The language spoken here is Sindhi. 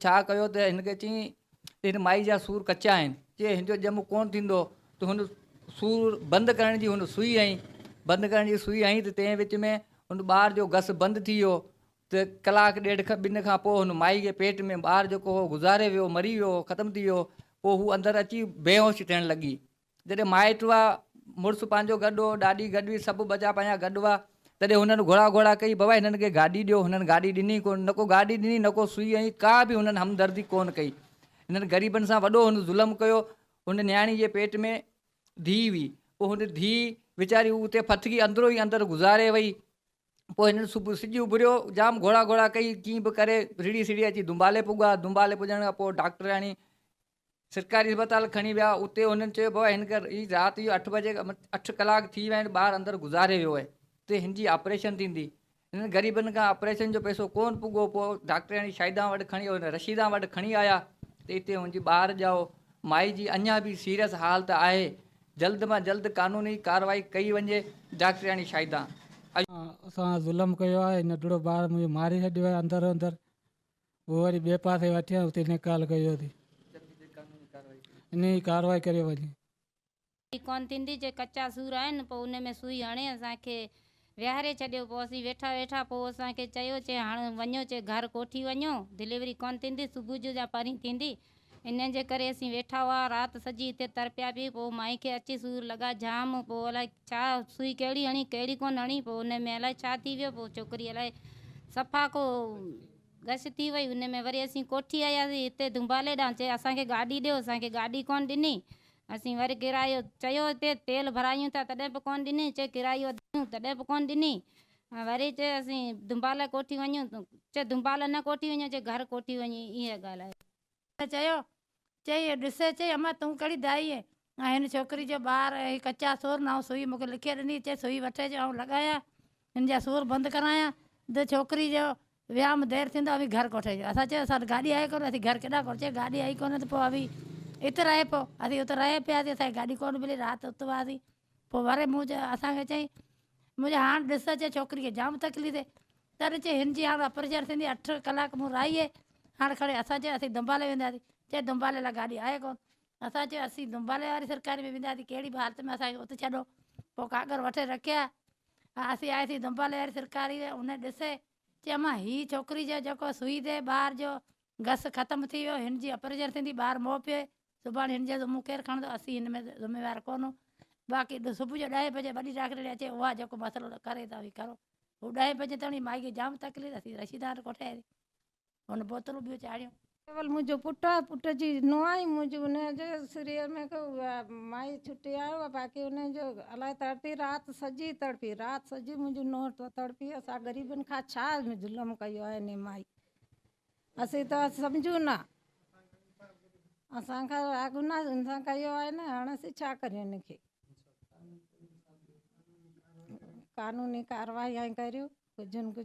ڇا ڪيو ته هن کي چيائين ته هن مائي جا سور ڪچا آهن، جي هن جو ڄم ڪونه ٿيندو ته هن سور بند ڪرڻ جي هن سوئي هنئي، بند ڪرڻ جي سوئي هنئي ته تنهن وچ ۾ هن ٻار جو گس بند ٿي ويو ته ڪلاڪ ڏيڍ کن ٻن کان پوء هن مائي جي پيٽ ۾ ٻار جيڪو هو گذاري ويو مري ويو ختم ٿي ويو پوء هو اندر اچي بيهوش ٿيڻ لڳي. جڏهن مائٽ هئا، مڙس پنهنجو گڏ هو، ڏاڏي گڏ هئي، سڀ ٻچا پنهنجا گڏ هئا، تڏهن هنن گهڙا گهڙا ڪئي، بابا هنن کي گاڏي ڏيو، هنن گاڏي ڏني ڪونه، نه ڪو گاڏي ڏني، نه ڪو سوئي هنئي، ڪا به هنن همدردي ڪونه ڪئي. هنن غريبن سان وڏو هن ظلم ڪيو. هن نياڻي جي پيٽ ۾ ڌيء هئي، پوء هن ڌيء ويچاري هو اتي ڦٿڪي اندرو ئي اندر گذاري وئي. پوء هنن صبح سج اڀريو، جام گهڙا گهڙا ڪئي، ڪيئن به ڪري رڙهي سڙهي اچي دنبالي پڳا، دنبالي پڄڻ کان پوء ڊاڪٽرياڻي سرڪاري اسپتال کڻي ويا اتي هنن چيو بابا هن کي رات جو اٺ بجي اٺ ڪلاڪ ٿي ويا آهن ٻار اندر گذاري ويو آهي اتي هن جي آپريشن ٿيندي هنن غريبن کان آپريشن جو پيسو ڪون پڳو پوء ڊاڪٽرياڻي شاهدان وٽ کڻي رشيدان وٽ کڻي آيا ته اتي هن جي ٻار ڄائو مائي جي اڃا به سيريس حالت آهي جلد مان جلد قانوني ڪارروائي ڪئي وڃي ڊاڪٽرياڻي شاهدان اسان ظلم ڪيو آهي ننڍڙو ٻار منهنجو ماري ڇڏيو آهي اندر اندر هو وري ٻئي پاسي وٺي آيا اتي نيڪال ڪئي ويو ته انهي ڪارروائي ڪري وڃي. هي ڪونه ٿيندي چي ڪچا سور آهن پوء ان ۾ سوئي هڻي اسان کي ويهاري ڇڏيو پوء اسين ويٺا ويٺا پوء اسان کي چيو چي هاڻ وڃو چي گهر ڪوٺي وڃو ڊليوري ڪونه ٿيندي صبح جو جا پرين ٿيندي انهن جي ڪري اسين ويٺا هئا رات سڄي اتي تر پيا پي پوء مائي کي اچي سور لڳا جام پوء الائي ڇا سوئي ڪهڙي هڻي ڪهڙي ڪونه هڻي پوء ان ۾ الائي ڇا ٿي ويو پوء ڇوڪري الائي صفا ڪو غش ٿي وئي ان ۾ وري اسين ڪوٺي آياسين هتي دنبالي ڏانهن چي اسان کي گاڏي ڏيو اسان کي گاڏي ڪونه ڏني اسين وري ڪرايو چيو هتي تيل ڀرايون ٿا تڏهن به ڪونه ڏني چي ڪرايو ڏيون تڏهن به ڪونه ڏني وري چي اسين دنباله ڪوٺي وڃون تون چي دنباله نه ڪوٺي وڃي چي گهر ڪوٺي وڃي ايئن ڳالهايو. چيو چي اهو ڏس چي امان تون ڪهڙي دائي اهي ۽ هن ڇوڪري جو ٻار اهي ڪچا سور نه آئون سوئي مونکي لکي ڏني چي سوئي وٺي جو آئون لڳايان هن جا سور بند ڪرايان د ڇوڪري جو ويام دير ٿيندو اوهين گهر ڪوٺي اچو اسان چيو اسان وٽ گاڏي آهي ڪونه اسين گهر ڪيڏانهن ڪوٺجي گاڏي آئي ڪونه ته پوء اوهين ات رهي پئو اسين ات رهي پياسين اسان کي گاڏي ڪونه ملي رات ات هئاسين پوء وري مون چيو اسان کي چيائين مون چيو هاڻ ڏس چيو ڇوڪري کي جام تڪليف ٿئي تڏهن چيو هن جي هاڻ اپريشن ٿيندي اٺ ڪلاڪ مون راهي هاڻ کڻي اسان چيو اسين دنبالي وينداسين چيو دنبالي لاء گاڏي آهي ڪونه اسان چيو اسين دنبالي واري سرڪاري ۾ وينداسين ڪهڙي به حالت ۾ اسان کي ات ڇڏو پوء ڪاڪر وٺي رکيا آسي آسي دنبل وير سرڪاري ويو ان ڏسي چيومانس هي ڇوڪري جو جيڪو سوئي دي ٻار جو گس ختم ٿي ويو هن جي اپريجن ٿيندي ٻار مئو پيئي سڀاڻي هن جو ذمو ڪير کڻندو اسين هن ۾ ذميوار ڪونهون باقي صبح جو ڏهين بجي وڏي ڊاڪٽرياڻي اچي اها جيڪو مسئلو ڪري ته اوهين ڪرو هو ڏهين بجي تائين مائي کي جام تڪليف اٿي رشيدان ڪوٺي آئي هن بوتلون ٻيون چاڙهيون. ڪيول منهنجو پٽ آهي، پٽ جي نونهن منهنجي ان جي سريء ۾ ڪو مائي ڇٽي آيو آهي، باقي ان جو الائي تڙپي رات سڄي تڙپي، رات سڄي منهنجي نونهن تڙپي، اسان غريبن کان ڇا ظلم ڪيو آهي انهي مائي، اسين ته سمجهون نه، اسان کان اها گناهه ان سان ڪيو آهي نه، هاڻ اسين ڇا ڪريون ان کي، قانوني ڪارروائي ائين ڪريو، ڪجهه نه ڪجهه.